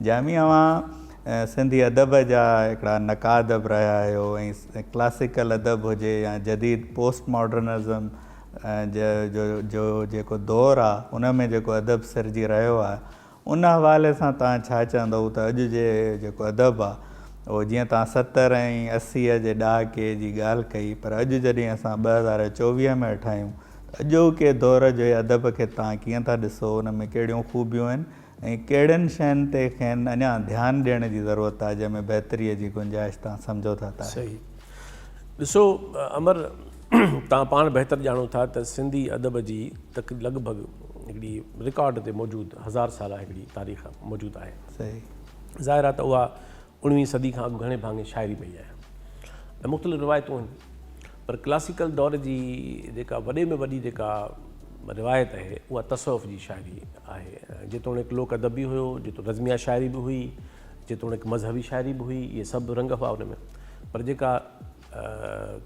جامي اوهان سنڌي ادب جا هڪڙا نقاد به رهيا آهيو ۽ ڪلاسيڪل ادب هجي يا جديد پوسٽ ماڊرنزم جي جو جيڪو دور آ ان ۾ جيڪو ادب سرجي رهيو آ ان حوالي سان توهان ڇا چوندؤ ته اڄ جي جيڪو ادب آ اهو جيئن توهان ستر ۽ اسيء جي ڏهاڪي جي ڳالهه ڪئي پر اڄ جڏهن اسان ٻه هزار چوويهه ۾ هيٺ آهيون ته اڄوڪي دور جي ادب کي توهان ڪيئن ٿا ڏسو ان ۾ ڪهڙيون خوبيون آهن ۽ ڪهڙين شين تي کين اڃا ڌيان ڏيڻ جي ضرورت آهي جنهن ۾ بهتري جي گنجائش تان سمجهو ٿا ته آهي. صحيح ڏسو امر توهان پاڻ بهتر ڄاڻو ٿا ته سنڌي ادب جي تڪ لڳ ڀڳ هڪڙي رڪارڊ تي موجود هزار سالا هڪڙي تاريخ موجود آهي. صحيح. ظاهر آهي ته اها اوڻويهين صدي کان اڳ گهڻي ڀاڱي شاعري پئي آهي ۽ مختلف روايتون آهن پر ڪلاسيڪل دور جي جيڪا وڏي ۾ وڏي جيڪا روايت آهي اها تصوف جي شاعري آهي جيتوڻيڪ لوڪ ادب به هيو جيتوڻيڪ رزميه شاعري به هئي جيتوڻيڪ مذهبي شاعري به هئي اهي سڀ رنگ هئا ان ۾ پر جيڪا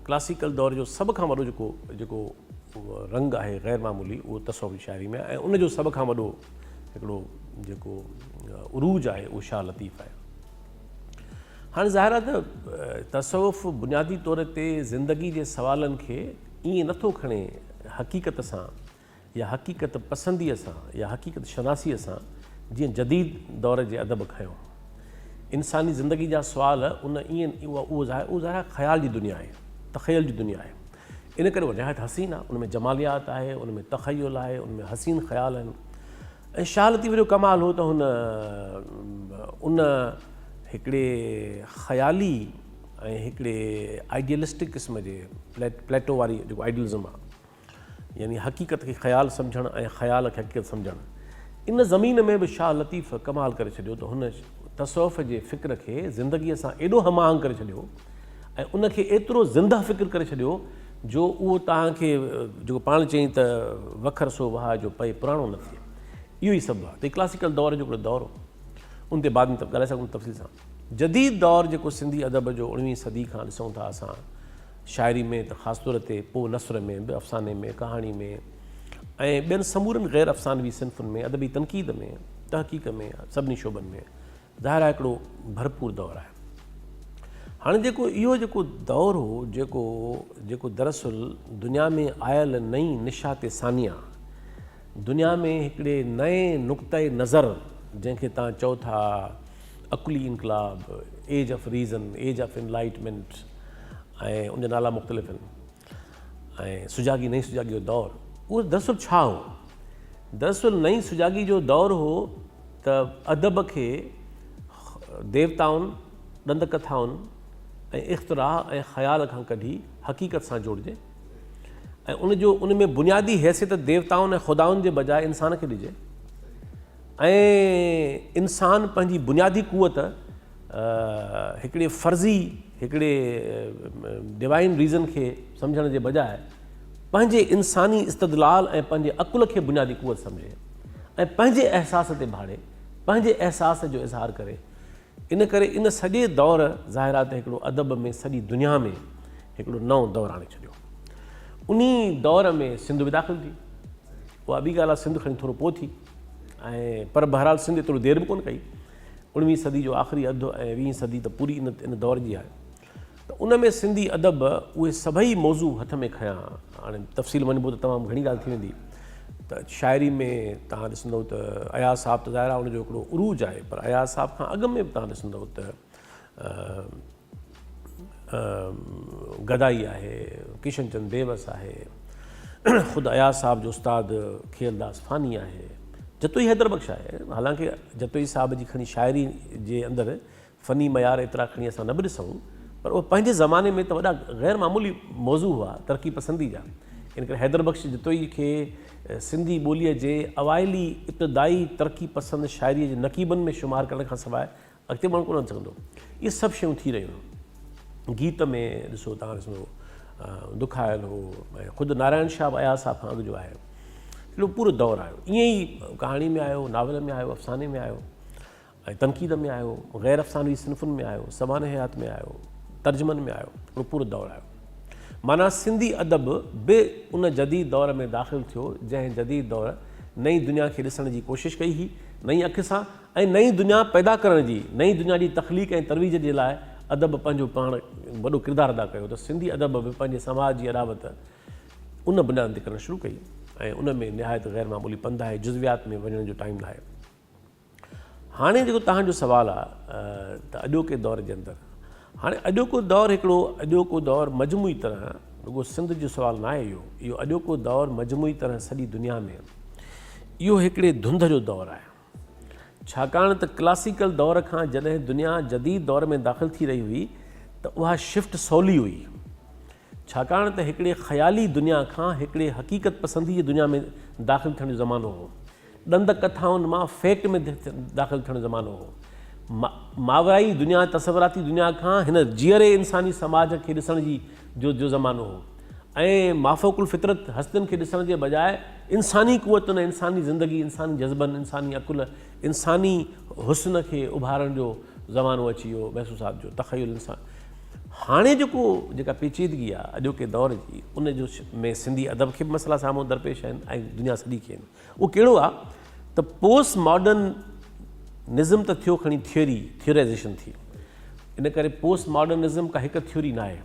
ڪلاسيڪل دور جو سڀ کان وڏو جيڪو جيڪو رنگ آهي غير معمولي اهو تصوفي شاعري ۾ آهي ۽ ان جو سڀ کان وڏو هڪڙو جيڪو عروج آهي اهو شاهه لطيف آهي هاڻي ظاهر آهي ته تصوف بنيادي طور تي زندگي جي سوالن کي ائين نٿو کڻي حقيقت سان يا حقيقت پسنديء سان يا حقيقت شناسيء سان جيئن جديد دور جي ادب کنيو. انساني زندگي جا سوال ان اين اهو ظاهر آهي خيال جي دنيا آهي، تخيل جي دنيا آهي. ان ڪري اها نهايت حسين آهي، ان ۾ جماليات آهي، ان ۾ تخيل آهي، ان ۾ حسين خيال آهن. ۽ شاهه لطيف جو ڪمال هو ته هن ان هڪڙي خيالي ۽ هڪڙي آئيڊيلسٽڪ قسم جي پليٽو واري جيڪو آئيڊيلزم آهي، يعني حقيقت کي خيال سمجهڻ ۽ خيال کي حقيقت سمجهڻ. ان ضمير ۾ به شاهه لطيف ڪمال ڪري ڇڏيو ته هن تصوف جي فڪر کي زندگيء سان ايڏو هم آهنگ ڪري ڇڏيو ۽ ان کي ايترو زنده فڪر ڪري ڇڏيو جو اهو توهان کي جيڪو پاڻ چئين ته وکر سو وهاء جو پئي پراڻو نه ٿئي. اهو ئي سبب آهي ته ڪلاسيڪل دور جو هڪڙو دور هو. ان تي بعد ۾ ته ڳالهائي سگهون ٿا تفصيل سان. جديد دور جيڪو سنڌي ادب جو اڻويهين صدي کان ڏسون ٿا اسان شاعري ۾ ته خاص طور تي پوء نثر ۾ به افساني ۾ ڪهاڻي ۾ ۽ ٻين سمورن غير افسانوي صنفن ۾ ادبي تنقيد ۾ تحقيق ۾ سڀني شعبن ۾ ظاهر آهي هڪڙو ڀرپور دور آهي هاڻي جيڪو اهو جيڪو دور هو جيڪو جيڪو دراصل دنيا ۾ آيل نئين نشات ثانيه دنيا ۾ هڪڙي نئين نقطه نظر جنهن کي تان چئو ٿا عقلي انقلاب، age of reason, age of enlightenment ۽ ان جا نالا مختلف آهن ۽ سجاڳي، نئين سجاڳي جو دور اهو دراصل ڇا هو؟ دراصل نئين سجاڳي جو دور هو ته ادب کي ديوتائن، ڏند ڪٿائن ۽ اختراع ۽ خيال کان ڪڍي حقيقت سان جوڙجي ۽ ان جو ان ۾ بنيادي حيثيت ديوتائن ۽ خدائن جي بجاء انسان کي ڏجي. ۽ انسان پنهنجي بنيادي قوت هڪڙي فرضي هڪڙي ڊوائين ريزن کي سمجهڻ جي بجاء پنهنجي انساني استدلال ۽ پنهنجي عقل کي بنيادي قوت سمجهي ۽ پنهنجي احساس تي ڀاڙي پنهنجي احساس جو اظهار ڪري ان ڪري ان سڄي دور ظاهرا ته هڪڙو ادب ۾ سڄي دنيا ۾ هڪڙو نئون دور آڻي ڇڏيو. انهي دور ۾ سنڌ به داخل ٿي. اها ٻي ڳالهه آهي سنڌ کڻي ٿورو پوء ٿي ۽ پر بهرحال سنڌ ايترو دير به ڪونه ڪئي. اوڻويهين صدي جو آخري اڌ ۽ ويهين صدي ته پوري ان دور جي آهي. ته ان ۾ سنڌي ادب اهي سڀئي موضوع هٿ ۾ کنيا. هاڻي تفصيل ۾ وڃبو ته تمام گهڻي ڳالهه ٿي ويندي ته شاعري ۾ توهان ڏسندؤ ته اياز صاحب ته ظاهر آهي ان جو هڪڙو عروج آهي پر اياز صاحب کان اڳ ۾ به توهان ڏسندؤ ته گدائي آهي، ڪشن چند بيوس آهي، خود اياز صاحب جو استاد کيئلداس فاني آهي، جتوئي حيدر بخش آهي. حالانڪه جتوئي صاحب جي کڻي شاعري جي اندر فني معيار ايترا کڻي اسان نه به ڏسون پر اهي پنهنجي زماني ۾ ته وڏا غير معمولي موضوع هئا ترقي پسندي جا ان ڪري حيدر بخش جتوئي کي سنڌي ٻوليء جي اوائلي ابتدائي ترقي پسند شاعريء جي نقيبن ۾ شمار ڪرڻ کان سواء اڳتي ماڻهو ڪونه سگهندو اهي سڀ شيون ٿي رهيون هيون گيت ۾ ڏسو تان ڏسو دکايل هو ۽ خود نارائڻ شاهه به اياز صاحب کان اڳ جو آهي اهو پورو دور آيو ائين ئي ڪهاڻي ۾ آيو ناول ۾ آيو افساني ۾ آيو ۽ تنقيد ۾ آيو، غير افسانوي صنفن ۾ آيو، سوانح حيات ۾ آيو، ترجمن ۾ آيو، اهو پورو دور آيو. معنيٰ سنڌي ادب به ان جديد دور ۾ داخل ٿيو، جنهن جديد دور نئين دنيا کي ڏسڻ جي ڪوشش ڪئي هئي، نئين اک سان ۽ نئين دنيا پيدا ڪرڻ جي، نئين دنيا جي تخليق ۽ ترويج جي لاء ادب پنهنجو پاڻ وڏو ڪردار ادا ڪيو ته سنڌي ادب به پنهنجي سماج جي اڏاوت ان بنياد تي ڪرڻ شروع ڪئي ۽ ان ۾ نهايت غيرمعمولي پنڌ آهي، جزويات ۾ وڃڻ جو ٽائيم ناهي. هاڻي جيڪو توهان جو سوال آ ته اڄوڪي دور جي اندر هاڻي اڄوڪو دور هڪڙو اڄوڪو دور مجموعي طرح رڳو سنڌ جو سوال نه آهي اهو اهو اڄوڪو دور مجموعي طرح سڄي دنيا ۾ اهو هڪڙي ڌنڌ جو دور آهي ڇاڪاڻ ته ڪلاسيڪل دور کان جڏهن دنيا جديد دور ۾ داخل ٿي رهي هئي ته اها شفٽ سولي هئي ڇاڪاڻ ته هڪڙي خيالي دنيا کان هڪڙي حقيقت پسندي جي دنيا ۾ داخل ٿيڻ جو زمانو هو ڏند ڪٿائن مان فيڪٽ ۾ داخل ٿيڻ زمانو هو. ماورائي دنيا، تصوراتي دنيا کان هن جيئري انساني سماج کي ڏسڻ جي جو جو زمانو هو ۽ مافوق الفطرت هستين کي ڏسڻ جي بجاء انساني قوتن ۽ انساني زندگي، انساني جذبن، انساني عقل، انساني حسن کي اڀارڻ جو زمانو اچي ويو محسو صاحب جو تخيل انسان هاڻي جيڪو جيڪا پيچيدگي آ اڄوڪي دور جي ان جو ۾ سنڌي ادب کي به مسئلا سامهون درپيش آهن ۽ دنيا سڄي کي آهن. اهو ڪهڙو آ ته پوسٽ ماڊرن نزم ته ٿيو کڻي ٿيوري، ٿيورائيزيشن ٿي. ان ڪري پوسٽ ماڊرن نزم ڪا هڪ ٿيوري ناهي.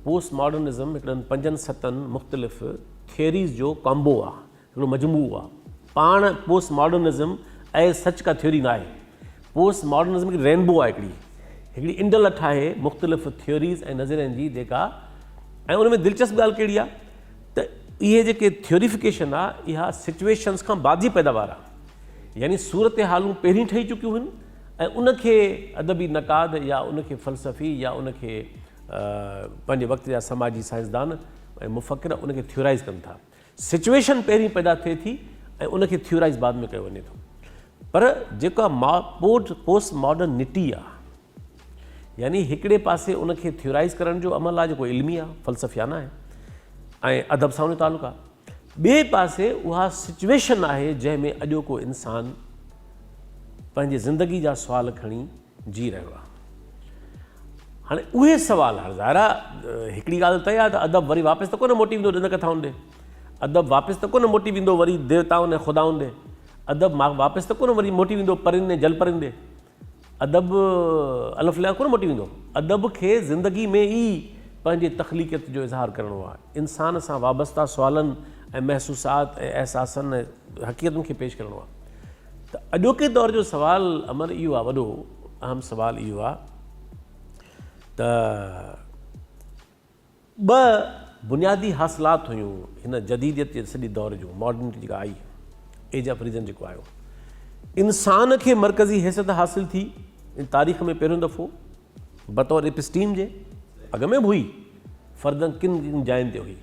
پوسٽ ماڊرن نزم هڪڙن پنجن ستن مختلف ٿيوريز جو ڪامبو آ، هڪڙو مجموعو آ. پاڻ postmodernism as such ڪا ٿيوري ناهي. پوسٽ ماڊرن نزم هڪڙي رينبو آ هڪڙي. هڪڙي انڊ لٺ آهي مختلف ٿيوريز ۽ نظرين جي جيڪا ۽ ان ۾ دلچسپ ڳالهه ڪهڙي آ؟ ته اهي جيڪي ٿيوريفڪيشن آ اها سچويشنز کان بعد جي پيداوار آ يعني صورتحالون پهرين ٺهي چڪيون هن ۽ ان کي ادبي نقاد يا ان کي فلسفي يا ان کي پنهنجي وقت جا سماجي سائنسدان ۽ مفڪر ان کي ٿيورائز ڪن ٿا سچويشن پهرين پيدا ٿئي ٿي ۽ ان کي ٿيورائز بعد ۾ ڪيو وڃي ٿو پر جيڪا پوسٽ ماڊرن نٽي آ يعني هڪڙي پاسي ان کي ٿيورائز ڪرڻ جو عمل آهي جيڪو علمي آهي، فلسفيانه آهي ۽ ادب سان ان جو تعلق آهي. ٻئي پاسي اها سچويشن آهي جنهن ۾ اڄوڪو انسان پنهنجي زندگي جا سوال کڻي جي رهيو آهي. هاڻي اهي سوال هاڻي ظاهر آهي هڪڙي ڳالهه طئي آهي ته ادب وري واپس ته ڪونه موٽي ويندو ڏند ڪٿائن ڏي. ادب واپس ته ڪونه موٽي ويندو وري ديوتائن ۽ خدائن ڏي. ادب واپس ته ڪونه وري موٽي ويندو پرين ۽ جل پرين ڏي. ادب الف ليا ڪونه مٽي ويندو. ادب کي زندگي ۾ ئي پنهنجي تخليقيت جو اظهار ڪرڻو آهي. انسان سان وابسته سوالن ۽ محسوسات ۽ احساسن ۽ حقيقتن کي پيش ڪرڻو آهي. ته اڄوڪي دور جو سوال امر اهو آهي وڏو اهم سوال اهو آهي ته. ٻه بنيادي حاصلات هيون هن جديديت جي سڄي دور جون، Modernity جيڪا آئي، Age of Reason جيڪو آيو، انسان کي مرڪزي حيثيت حاصل ٿي ۽ تاريخ ۾ پهريون دفعو بطور ايپسٽيم جي، اڳ ۾ به هئي، فردن ڪن ڪن جاين تي هئي،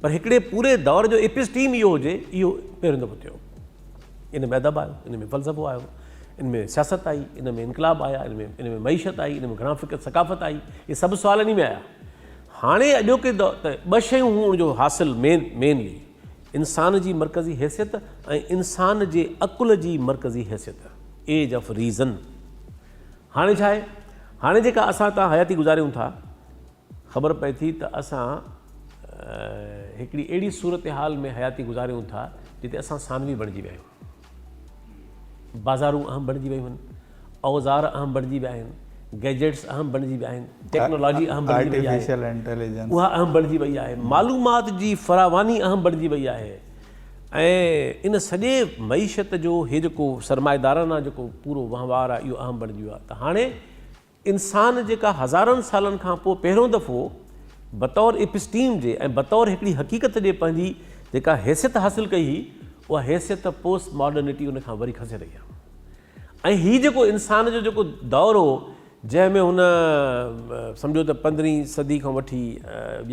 پر هڪڙي پوري دور جو ايپسٽيم اهو هجي، اهو پهريون دفعو ٿيو. ان ۾ ادب آيو، ان ۾ فلسفو آيو، ان ۾ سياست آئي، ان ۾ انقلاب آيا، ان ۾ ان ۾ معيشت آئي، ان ۾ گهڻا فڪر ثقافت آئي، اهي سڀ سوال انهي ۾ آيا. هاڻي اڄوڪي دور ته ٻه شيون هون ان جو حاصل مين مينلي انسان جي مرڪزي حيثيت ۽ انسان جي عقل جي مرڪزي حيثيت ايج آف ريزن. هاڻي ڇا آهي؟ هاڻي جيڪا اسان تان حياتي گذاريون ٿا، خبر پئي ٿي ته اسان هڪڙي اهڙي صورتحال ۾ حياتي گذاريون ٿا جتي اسان ثانوي بڻجي ويا آهيون. بازارون اهم بڻجي ويون آهن، اوزار اهم بڻجي ويا آهن، گيجيٽس اهم بڻجي ويا آهن، ٽيڪنالاجي اهم بڻجي وئي آهي، اها اهم بڻجي وئي آهي، معلومات جي فراواني اهم بڻجي وئي آهي ۽ ان سڄي معيشت جو هي جيڪو سرمائيدارانه جيڪو پورو وهنوار آهي اهو اهم بڻجي ويو آهي ته هاڻي انسان جيڪا هزارن سالن کان پوء پهريون دفعو بطور ايپسٽيم جي ۽ بطور هڪڙي حقيقت جي پنهنجي جيڪا حيثيت حاصل ڪئي هئي اها حيثيت پوسٽ ماڊرنٽي ان کان وري کسي رهي آهي ۽ هي جيڪو انسان جو جيڪو دور هو جنهن ۾ هن سمجهو ته پندرهين صدي کان وٺي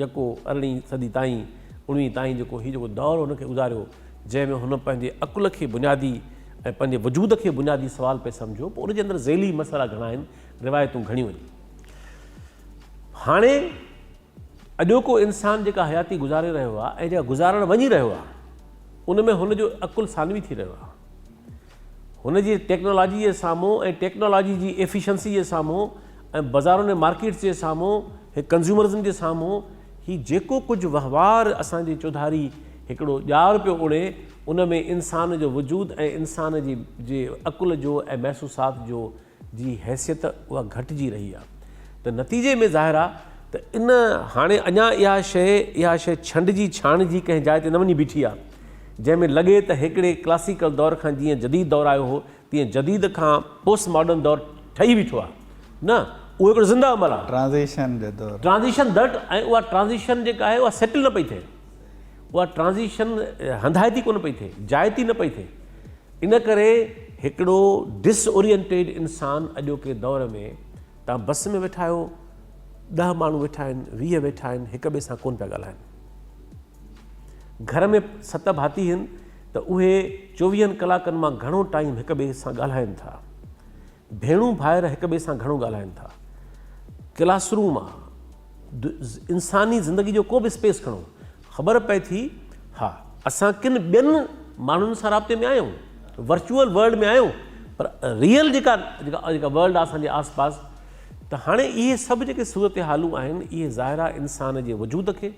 يڪو ارڙهين صدي تائين اڻويهين تائين جيڪو هي جيڪو دور هن کي گذاريو جنهن ۾ هن پنهنجي عقل کي بنيادي ۽ پنهنجي وجود کي بنيادي سوال پئي سمجهو پوء ان جي اندر ذيلي مسئلا گهڻا آهن، روايتون گهڻيون آهن. هاڻي اڄوڪو انسان جيڪا حياتي گذاري رهيو آهي ۽ جيڪا گذارڻ وڃي رهيو آهي ان ۾ هن جو عقل ثانوي ٿي رهيو آهي. هن جي ٽيڪنالاجي جي سامهون ۽ ٽيڪنالاجي جي ايفيشنسي جي سامهون ۽ بزارن ۽ مارڪيٽس جي سامهون هي ڪنزيومرزم جي سامهون هي جيڪو ڪجهه وهنوار اسان جي چوڌاري هڪڙو ڄار پيو اڻي ان ۾ انسان جو وجود ۽ انسان جي جي عقل جو ۽ محسوسات جو جي حيثيت اها گهٽجي رهي آهي ته نتيجي ۾ ظاهر آهي ته ان هاڻي اڃا اها شيء اها شيء ڇنڊجي ڇاڻجي ڪنهن جاء تي نه وڃي بيٺي آهي جنهن ۾ لڳي ته هڪڙي ڪلاسيڪل دور کان جيئن جديد دور آيو هو تيئن جديد کان پوسٽ ماڊرن دور ٺهي بيٺو آهي نه اهو هڪڙو زنده عمل آهي ٽرانزيشن جو دور ٽرانزيشن دڙٽ ۽ اها ٽرانزيشن جيڪا آهي اها سيٽل نه پئي ٿئي اها ٽرانزيشن هنڌائتي ڪونه پئي ٿئي، جائتي نه پئي ٿئي. ان ڪري هڪڙو ڊس اورينٽيڊ انسان اڄوڪي دور ۾ تان بس ۾ ويٺا آهيو، ڏهه ماڻهو ويٺا آهن، ويهه ويٺا آهن، هڪ ٻئي سان ڪونه پيا ڳالهائن. گهر ۾ ست ڀاتي هن ته اهي چوويهن ڪلاڪن مان گهڻو ٽائيم هڪ ٻئي سان ڳالهائن ٿا. ڀيڻون ڀائر هڪ ٻئي سان گهڻو ڳالهائن ٿا. ڪلاس روم آ انساني زندگي جو ڪو به اسپيس کڻو خبر پئي ٿي ها اسان ڪن ٻين ماڻهن سان رابطي ۾ آهيون ورچوئل ورلڊ ۾ آهيون پر ريئل جيڪا جيڪا ورلڊ آ اسان جي آس پاس ته هاڻي اهي سڀ جيڪي صورتحالون آهن اهي ظاهر آ انسان جي وجود کي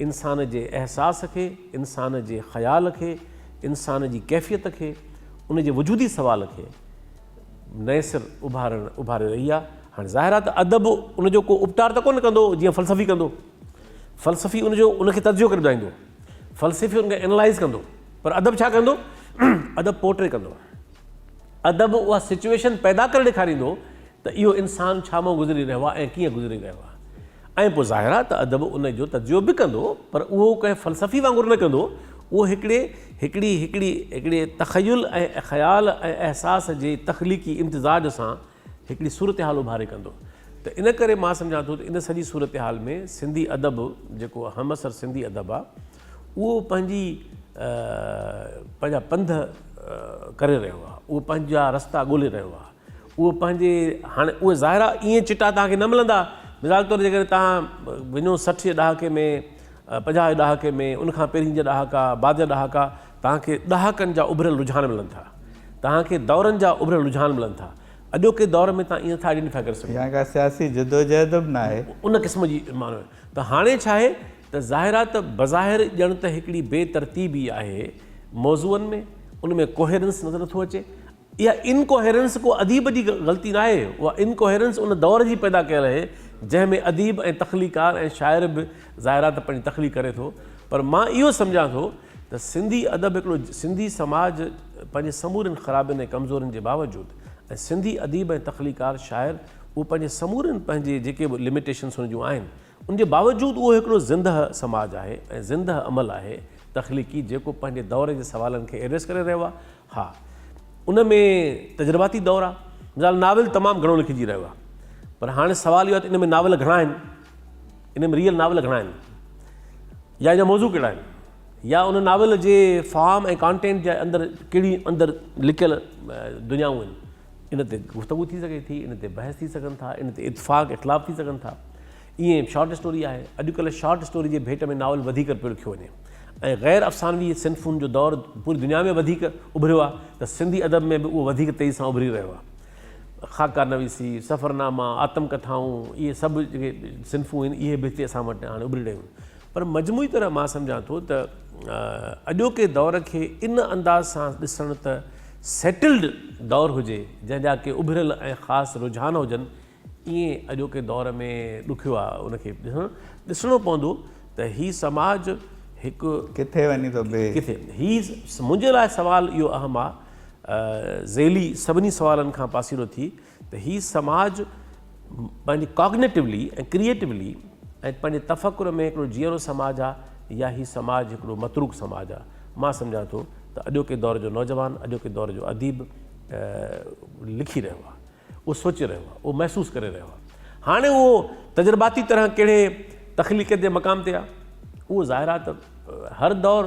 انسان جي احساس کي انسان جي خيال کي انسان جي ڪيفيت کي ان جي وجودي سوال کي نئين سر اڀارڻ اڀاري رهي آهي. هاڻي ظاهر آهي ته ادب ان جو ڪو اپٽار ته ڪونه ڪندو جيئن فلسفي ڪندو. فلسفي ان جو ان کي تجزيو ڪري ٻڌائيندو. فلسفي ان کي اينالائز ڪندو. پر ادب ڇا ڪندو؟ ادب پورٽري ڪندو. ادب اها سچوئيشن پيدا ڪري ڏيکاريندو ته اهو انسان ڇا مان گذري رهيو آهي ۽ ڪيئن گذري رهيو آهي. ۽ پوء ظاهر آهي ته ادب ان جو تجزيو به ڪندو پر اهو ڪنهن فلسفي وانگر نه ڪندو، اهو هڪڙي هڪڙي هڪڙي هڪڙي تخيل ۽ خيال ۽ احساس جي تخليقي امتزاج سان هڪڙي صورتحال اڀاري ڪندو ته ان ڪري مان سمجهان ٿو ته ان سڄي صورتحال ۾ سنڌي ادب جيڪو همعصر سنڌي ادب آهي اهو پنهنجي پنهنجا پنڌ ڪري رهيو آهي اهو پنهنجا رستا ڳولي رهيو آهي. اهو پنهنجي هاڻي اهي ظاهرا ائين چٽا توهان کي نه ملندا مثال طور جيڪڏهن توهان وڃو سٺ جي ڏهاڪي ۾ پنجاهه جي ڏهاڪي ۾ ان کان پهرين جا ڏهاڪا بعد جا ڏهاڪا توهان کي ڏهاڪن جا اڀريل رجحان ملن ٿا توهان کي دورن جا اڀريل رجحان ملن ٿا اڄوڪي دور ۾ توهان ائين ٿا آئيڊينٽي ٿا ڪري سگهو ڪا سياسي جدوجهد به نه آهي ان قسم جي معنيٰ ته هاڻي ڇا آهي ته ظاهر آهي ته بظاهر ڄڻ ته هڪڙي بي ترتيبي آهي موضوعن ۾ ان ۾ ڪوهيرنس نظر نٿو اچي اها Incoherence ڪو اديب جي غلطي ناهي، اها Incoherence ان دور جي پيدا ڪيل اهي، جنهن ۾ اديب ۽ تخليقڪار ۽ شاعر به ظاهر آهي ته پنهنجي تخليق ڪري ٿو، پر مان اهو سمجهان ٿو ته سنڌي ادب هڪڙو سنڌي سماج پنهنجي سمورين خرابين ۽ ڪمزورين جي باوجود ۽ سنڌي اديب ۽ تخليقڪار شاعر اهو پنهنجي سمورين پنهنجي جيڪي به Limitations هن جون آهن ان جي باوجود اهو هڪڙو زندهه سماج آهي ۽ زندهه عمل آهي تخليقي جيڪو پنهنجي دور جي سوالن کي Address ڪري رهيو آهي ها ان ۾ تجرباتي دور آ مثال ناول تمام گهڻو لکجي رهيو آ پر هاڻي سوال اهو آ ته ان ۾ ناول گهڻا آهن ان ۾ ريئل ناول گهڻا آهن يا ان جا موضوع ڪهڙا آهن يا ان ناول جي فارم ۽ ڪانٽينٽ جي اندر ڪهڙي اندر لڪيل دنيائون آهن ان تي گفتگو ٿي سگهي ٿي ان تي بحث ٿي سگهن ٿا ان تي اتفاق اختلاف ٿي سگهن ٿا ائين به شارٽ اسٽوري آهي. اڄڪلهه شارٽ اسٽوري جي ڀيٽ ۾ ناول وڌيڪ پيو لکيو وڃي ۽ غير افسانوي صنفن جو دور پوري دنيا ۾ وڌيڪ اڀريو آهي ته سنڌي ادب ۾ به اهو وڌيڪ تيزي سان اڀري رهيو آهي. خاڪا نويسي، سفرناما، آتم ڪٿائون اهي سڀ جيڪي صنفون آهن اهي به هتي اسان وٽ هاڻي اڀري رهيون آهن. پر مجموعي طرح مان سمجهان ٿو ته اڄوڪي دور کي ان انداز سان ڏسڻ ته سيٽلڊ دور هجي جنهن جا ڪي اڀريل ۽ خاص رجحان هجن ائين اڄوڪي دور ۾ ڏکيو آ ان کي ڏسڻو پوندو ته هي سماج هڪ. ڪٿي وڃي ٿو بيهي. ڪٿي هي منهنجي لاء سوال اهو اهم آ ذيلي سڀني سوالن کان پاسيرو ٿي ته هي سماج پنهنجي ڪاگنيٽولي ۽ ڪريئيٽولي ۽ پنهنجي تفڪر ۾ هڪڙو جيئرو سماج آ يا هي سماج هڪڙو متروڪ سماج آ مان سمجهان ٿو ته اڄوڪي دور جو نوجوان اڄوڪي دور جو اديب لکي رهيو آ. اهو سوچي رهيو آهي، اهو محسوس ڪري رهيو آهي. هاڻي اهو تجرباتي طرح ڪهڙي تخليقيت جي مقام تي آهي؟ اهو ظاهر آهي ته هر دور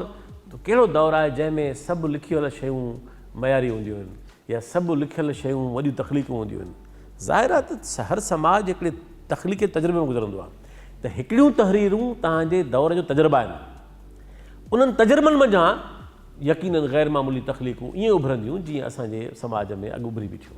ڪهڙو دور آهي جنهن ۾ سڀ لکيل شيون معياري هونديون آهن يا سڀ لکيل شيون وڏيون تخليقون هونديون آهن. ظاهر آهي ته هر سماج هڪڙي تخليقي تجربي مان گذرندو آهي ته هڪڙيون تحريرون توهان جي دور جو تجربه آهن. انهن تجربن منجهان يقينن غير معمولي تخليقون ائين اڀرنديون جيئن اسان جي سماج ۾ اڳ اڀري بيٺيون.